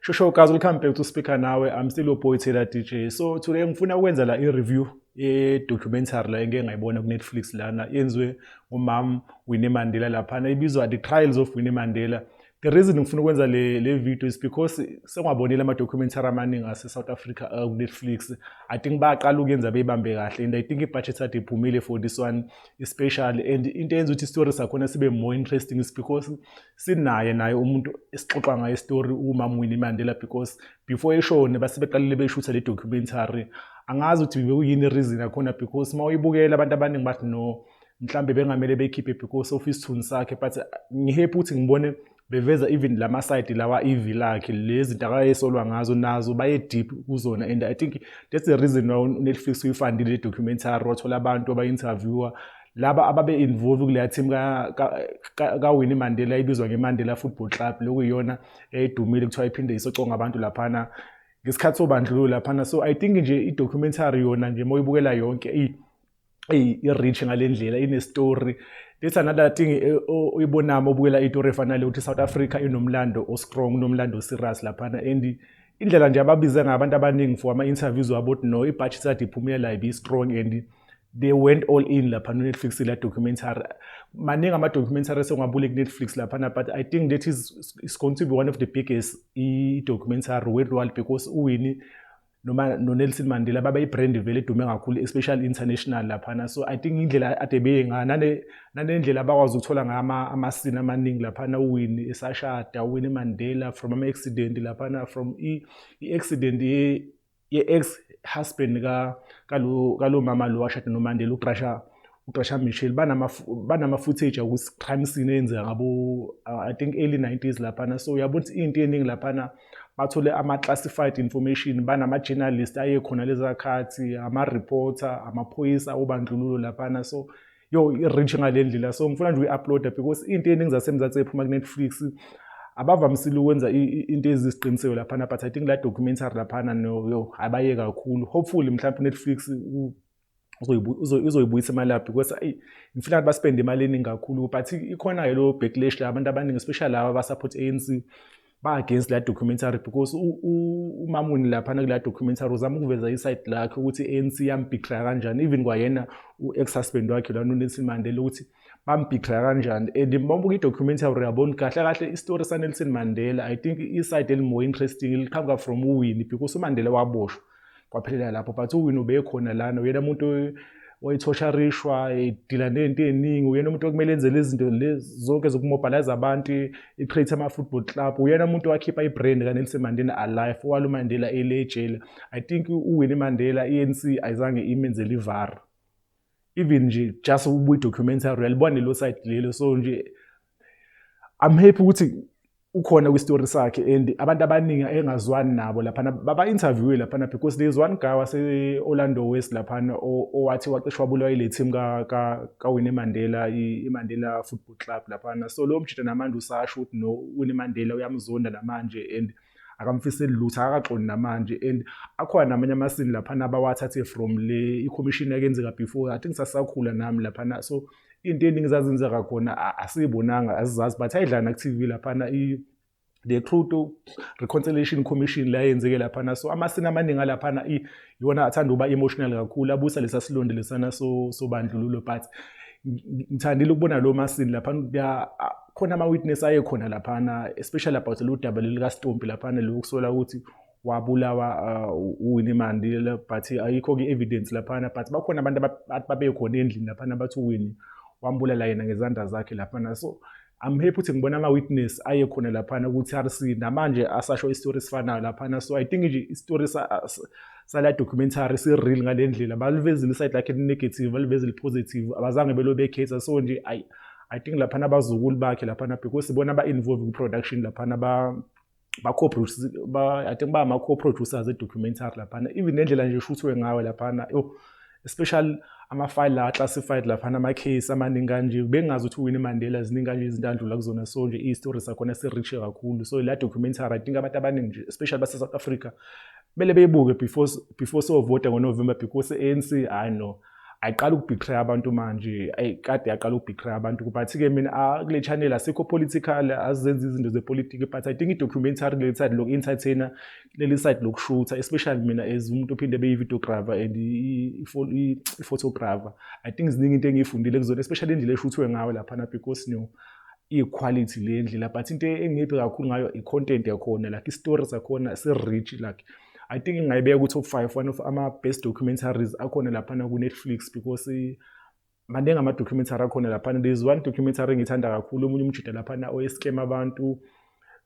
shosho guys welcome back to speaker nawe i'm still your boy Taylor DJ so today ngifuna ukwenza la i-review ye-documentary la engike ngayibona ku-netflix lana yenziwe umam Winnie Mandela laphana ibizwa the trials of Winnie Mandela The reason ngifuna ukwenza le le video is because sengwabonile ama documentary amaningi ase South Africa uh, ku Netflix. I think baqala ukuyenza beyibambe kahle and I think ibudget ade iphumile for this one especially and into eyenza ukuthi story sakhona sibe more interesting is because sinaye naye umuntu esixoxa ngaye story uMama Winnie Mandela because before eshone basebeqalile beshutha le documentary. Angazi ukuthi bekuyini reason yakhona because mawuyibukela abantu abaningi bathi no mhlambe bengamele bekhiphe because of isithunzi sakhe but uh, ngihappy ukuthi ngibone beveza even lama side lawa ivi lakhe lezi zinto akayesolwa ngazo nazo baye deep kuzona and i think that's the reason why Netflix uyifandile le documentary wathola abantu aba interviewer laba ababe involve kuleya team ka ka, ka Winnie Mandela ibizwa ngeMandela Football Club lokuyiyona edumile kuthiwa iphinde isoconga abantu laphana ngesikhathi sobandlululo laphana so i think nje i documentary yona nje moyibukela yonke i i-rich ngale ndlela ine-story this another thing eh, uyibonami obukela itori efana le ukuthi i-south africa inomlando o-strong unomlando o-serious laphana and indlela nje ababize ngayo abantu abaningi for ama-interviews wabo ukuthi no ibhatshi sade iphumela ibe strong and they went all in lapha no-netflix la documentary maningi ama-documentary esengwabule ku-netflix laphana but i think that is, is going to be one of the biggest i-documentary worldwide because uwini noma noNelson Mandela baba ibrand vele edume kakhulu especially international laphana so i think indlela ade beyinga nane nanendlela abakwazi ukuthola ngayo ama amasini amaningi laphana uwini esashada uwini Mandela from ama accident laphana from i, i accident ye, ye ex husband ka kalo kalo mama lo washada noMandela uBrasha uGqasha Michel banama banama footage ukuthi crime scene eyenzeka ngabo uh, I think early 90s laphana so uyabona ukuthi into eningi laphana bathole ama classified information banama journalist aye khona lezakhathi ama reporter amaphoyisa obandlululo laphana so yo i-reach ngale ndlela so ngifuna nje uyi-uploada because into eningi zasemzansi ephuma kunetflix abavamisile ukwenza into eziziqiniseko laphana but i think la documentary laphana no yo abaye kakhulu hopefully mhlawumbe unetflix uzoyibuyisa imali yaphi because ayi ngifuna ukuthi baspende imali eningi kakhulu but ikhona-ke lo backlash la abantu abaningi especially laba abasupport ANC ba-against la documentary because umamuni laphana kula documentary uzama ukuveza iside lakhe ukuthi i-ANC yambhikra kanjani even kwayena u-ex-husband wakhe lana unelson mandela ukuthi bambhikra kanjani and mabuka i-documentary uyabona kahle kahle isitori sanelson mandela i think iside eli-more interesting liqhamuka from uwini because umandela waboshwa kwaphelela lapho but uwini ubekhona lana uyena umuntu oyithosharishwa edila nento eningi uyena umuntu okumele enzele izinto zonke zokumobilize abantu i-create ama-football club uyena umuntu owakhipha i-brand kanelson mandela alive owalo mandela elejele i think uwini mandela i-anc ayizange imenzele ivara even nje just ubuyi-documentary uyalibona lelo side lelo so nje I'm happy ukuthi ukhona kwistory sakhe and abantu abaningi engazwani nabo laphana baba-interviewe laphana because there is one guy wase-orlando west laphana owathi waqeshwa bulawa ile team kawine mandela imandela football club laphana so lowo mjita namanje usasho ukuthi no wine mandela uyamzonda namanje and akamfiseli lutho akakaxoni namanje and akhona namanye amasini laphana abawathathe from le ikhomishini yakenzeka before i think sasakhula nami laphana so into eningi zazenzeka khona asiyibonanga azizazi but ayidlana ku-tv laphana the Crude Reconciliation Commission la yenzeke laphana so amasini amaningi alaphana iwona athanda uba emotional kakhulu abusa lesa silonde lesana so sobandlululo but ngithandile ukubona lo masini laphana khona ama witness aye khona laphana especially about lo double lika Stompi laphana lo kusola ukuthi wabulawa uh, uWinnie Mandela but ayikho ke evidence laphana but bakhona abantu babekhona endlini laphana bathi uWinnie wambulala yena ngezandla zakhe laphana so I'm happy ukuthi ngibona ama witness aye khona laphana ku TRC namanje asasho istory sifanayo laphana so I think nje istory sa sala documentary si real ngalendlela balivezile iside lakhe negative balivezile positive abazange belo bekhetha so nje I I think laphana abazukulu bakhe laphana because bona ba involved ku production laphana ba baco-produce ba, i think bama-co-producers e-documentary laphana even nendlela nje eshuthwe ngayo laphana yo especially ama-file la classified laphana ama-case amaningi kanje bengazi ukuthi uwini mandela ziningi kanje izinto andlula kuzona so nje i-story sakhona si-riche kakhulu so la documentary i think abantu abaningi nje especially base-south africa kumele beyibuke before, before sovota ngonovember because i-anc hhayi no ayiqala ukubhithreya abantu manje ayikade yaqala ukubhithreya abantu kubathi-ke mina ah, kule channel asikho political azenza izinto zepolitiki but i think i-documentary leli side loku-entertainer leli side lokushutha especially mina as umuntu ophinde ebe yi-videographer and i-photographer i think ziningi into engiyifundile kuzona especially indlela eshuthwe ngayo laphana because no i-quality le ndlela but into engiphi kakhulu ngayo i-content yakhona like i-story sakhona si-rich like I think ngingayibeka ukuthi u-five one of ama-best documentaries akhona laphana ku-netflix because eh, maningi ama-documentary akhona laphana there is one documentary engiyithanda kakhulu omunye umjuda laphana oescam abantu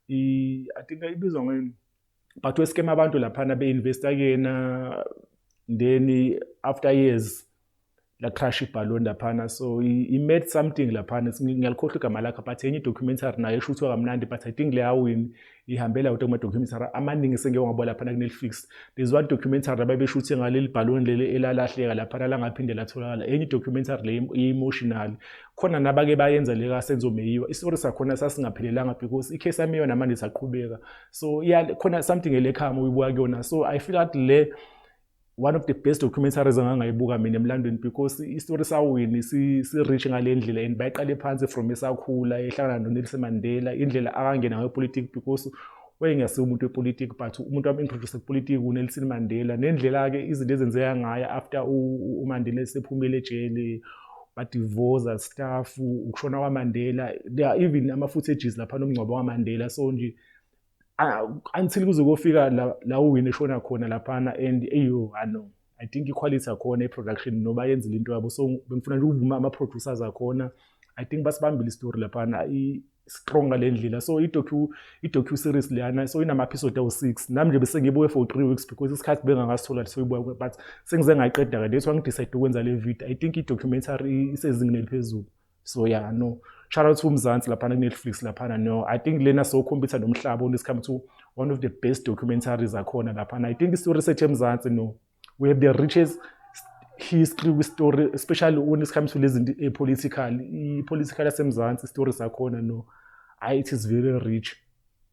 i think ibizwa ngani but oescam abantu laphana be-investa kuyena then after years la crash ibhaloni laphana so he made something laphana ngiyalikhohlwa igama lakhe but enye documentary nayo esho ukuthi wakamnandi but i think leyawini ihambela kodwa kuma-documentary amaningi sengeke wabo laphana kunelifix there's one documentary ababesho ukuthi ngaleli bhaloni leli elalahleka laphana langaphinde latholakala enye documentary le i-emotional khona nabake bayenza le kasenzo meyiwa isitori sakhona sasingaphelelanga because i-case yami yona manje saqhubeka so khona something elekhama uyibuka kuyona so i feel that le one of the best documentaries engangayibuka mina emlandweni because isitori sawini si-rich ngale ndlela and bayiqale phansi from esakhula ehlangana nonelson mandela indlela akangena ngayo politiki because wayengesiwo umuntu wepolitiki but umuntu wam-introduce kupolitiki unelson mandela nendlela-ke izinto ezenzeka ngayo after umandela esephumile ejele badivoza staff ukushona kwamandela there are even ama-footages lapha nomngcwabo kamandela so nje ah, until kuze kofika la, la uwini eshona khona laphana and eyo ano i think iquality yakhona iproduction noba yenzile into yabo so bengifuna nje ukuvuma ama-producers akhona i think basibambile isitori laphana strong ngale ndlela so i-docu series leyana so inama-episode awu-six nami nje besengibuye for three weeks because isikhathi bengangasithola soyibuya but sengize ngayiqeda-ke that's why ngidecide ukwenza le video i think i-documentary isezingeni eliphezulu so yeah no shout out to umzansi laphana kunetflix laphana no i think lena sokhombisa nomhlaba when it's come to one of the best documentaries akhona laphana i think istory sethu emzansi no we have the richest history kwistory especially when it comes to lezi zinto epolitical ipolitical yasemzansi istory sakhona no i it is very rich